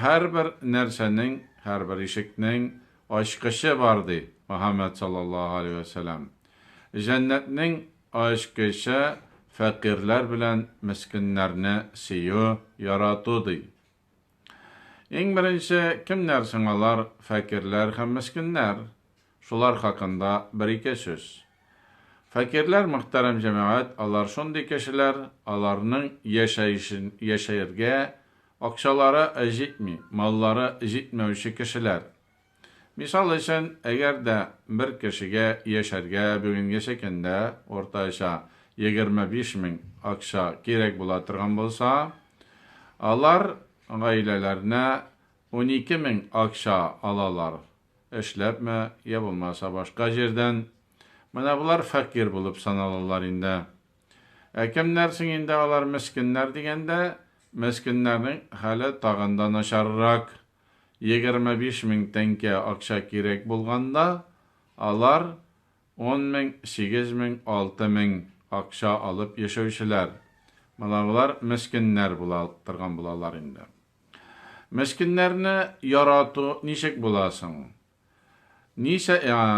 Һәрбер нәрсәнең, һәрбер ишекнең ачкычы бар, ди Мөхәммәд саллаллаһу галәйһи вә сәлам. Җәннәтнең ачкычы фәкыйрьләр белән мескеннәрне сөю, ярату, ди. Иң беренче кемнәр соң алар, фәкыйрьләр һәм мескеннәр? Шулар хакында бер-ике сүз. Фәкирләр, мөхтәрәм җәмәгать, алар шундый кешеләр, аларның яшәешен, яшәергә акчалары җитми, маллары җитмәүче кешеләр. Мисал өчен, әгәр дә бер кешегә яшәргә бүгенгече көндә уртача егерме биш мең акча кирәк була торган булса, алар гаиләләренә унике мең акча алалар. Эшләпме, йә булмаса башка җирдән. Менә болар фәкыйрь булып саналалар инде. Ә кемнәр соң инде алар мескеннәр дигәндә, мескеннәрнең хәле тагын да начаррак. Егерме биш мең тәңкә акча кирәк булганда, алар ун мең, сигез мең, алты мең акча алып яшәүчеләр. Менә болар мескеннәр була торган булалар инде. Мескеннәрне ярату ничек була соң? Ничә,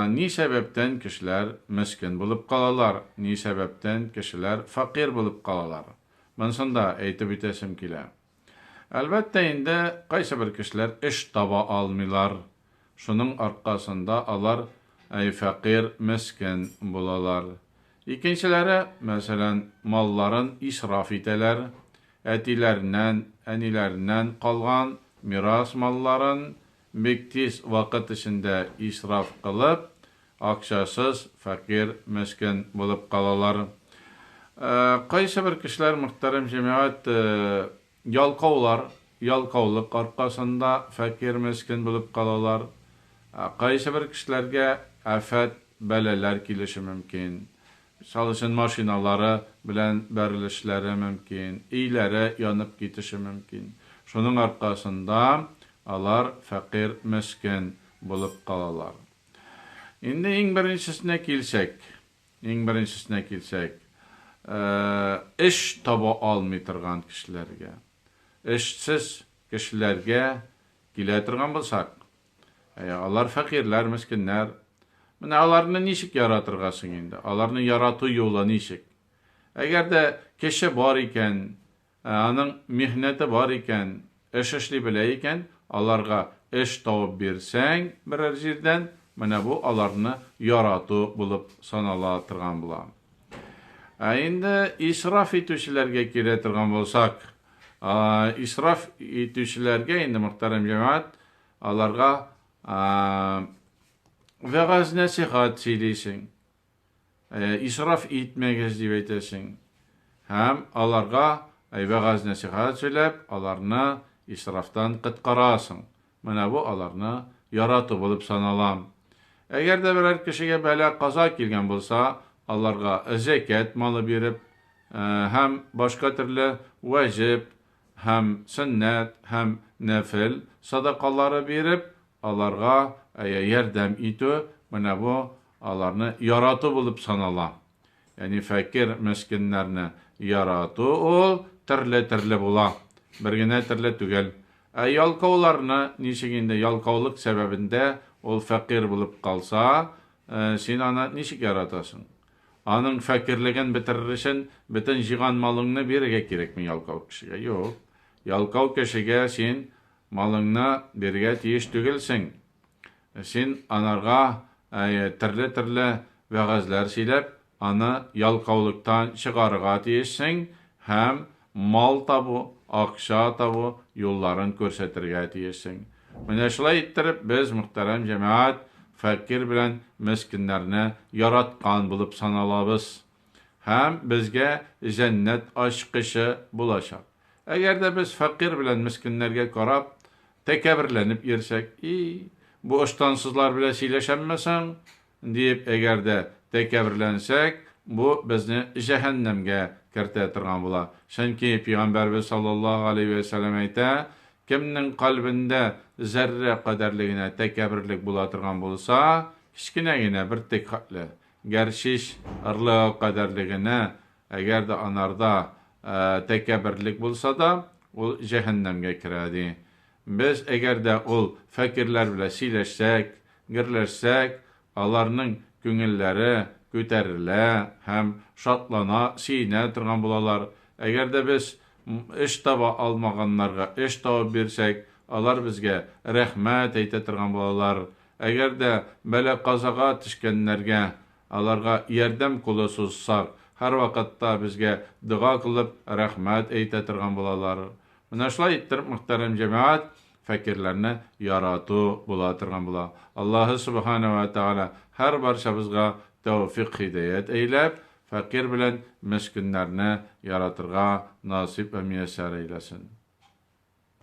ни сәбәптән кешеләр мескен булып калалар, ни сәбәптән кешеләр фәкыйрь булып калалар? Монысын да әйтеп үтәсем килә. Әлбәттә инде, кайсыбер кешеләр эш таба алмыйлар, Шуның аркасында алар фәкыйрь, мескен булалар. Икенчеләре, мәсәлән, малларын исраф итәләр, әтиләреннән, әниләреннән калган мирас малларын бик тиз вакыт эчендә исраф кылып, акчасыз фәкыйрь, мескен булып калалар. Кайсыбер кешеләр, мөхтәрәм җәмәгать, Ялкаулар, ялкаулык аркасында фәкыйрь-мескен булып калалар. Кайсыбер кешеләргә афәт, бәлаләр килеше мөмкин. Мисал өчен, машиналары белән бәрелешләре мөмкин, өйләре янып китеше мөмкин. Шуның аркасында алар фәкыйрь-мескен булып калалар. Инде иң беренчесенә килсәк. Иң беренчесенә килсәк, эш таба алмый торган кешеләргә. Эшсез кешеләргә килә торган булсак, алар фәкыйрьләр, мескеннәр. Менә аларны ничек яратырга соң инде? Аларны ярату юлы ничек? Әгәр дә кеше бар икән, Ә аның михнәте бар икән, эш эшли белә икән, аларга эш табып бирсәң берәр җирдән, менә бу аларны ярату булып санала торган була. Ә инде исраф итүчеләргә килә торган булсак, исраф итүчеләргә инде, мөхтәрәм җәмәгать, аларга вәгазь-нәсыйхәт сөйлисең. Исраф итмәгез, дип әйтәсең. Һәм аларга вәгазь-нәсыйхәт сөйләп, аларны исрафтан коткарасың. Менә бу аларны ярату булып саналам. Әгәр дә берәр кешегә бәла-каза килгән булса, аларга зәкят малы биреп һәм башка төрле вәҗеп һәм сөннәт һәм нәфел садакалары биреп, аларга ярдәм итү, менә бу Аларны ярату булып санала. Яни фәкер мескеннәрне ярату ул терле-терле була, бер генә терле түгел. Ә ялкауларны ничек инде, ялкаулык сәбәбендә ул фәкир булып калса, син аны ничек яратасың? Аның фәкирлеген бетерер өчен бөтен җыйган малыңны бирергә кирәкме ялкау кешегә? Юк. Ялкау кешегә син малыңны бирергә тиеш түгелсең. Син анарга төрле-төрле вәгазьләр сөйләп, аны ялкаулыктан чыгарырга тиешсең һәм мал табу, акча табу юлларын күрсәтергә тиешсең. Менә шулай иттереп, без, мөхтәрәм җәмәгать, фәкыйрь белән мескеннәрне яраткан булып саналабыз. һәм безгә җәннәт ачкычы булачак. Әгәр дә без фәкыйрь белән мескеннәргә карап, тәкәбберләнеп йөрсәк, И, бу ыштансызлар белән сөйләшәмме соң? диеп, әгәр дә тәкәбберләнсәк, бу безне җәһәннәмгә кертә торган була. Чөнки Пәйгамбәрбез саллаллаһу галәйһи вә сәлләм әйтә, Кемнең кальбендә зәррә кадәрле генә тәкәбберлек була торган булса, кечкенә генә бер тек хәтле, Гәрчич ырлыгы кадәрле генә, әгәр дә анарда тәкәбберлек булса да, ул җәһәннәмгә керә, ди. Без, әгәр дә ул фәкыйрьләр белән сөйләшсәк, гөрләшсәк, аларның күңелләре күтәрелә һәм шатлана, сөенә торган булалар. Әгәр дә без эш таба алмаганнарга эш табып бирсәк, алар безгә рәхмәт әйтә торган булалар, Әгәр дә бәла-казага төшкәннәргә, аларга ярдәм кулы сузсак, һәрвакытта безгә дога кылып, рәхмәт әйтә торган булалар. Менә шулай иттереп, мөхтәрәм җәмәгать, фәкыйрьләрне ярату була торган була. Аллаһы Субхана уә Тәгалә һәрбарчабызга тәүфыйк-һидәят әйләп, фәкыйрь белән мескеннәрне яратырга насыйп вә мияссәр әйләсен.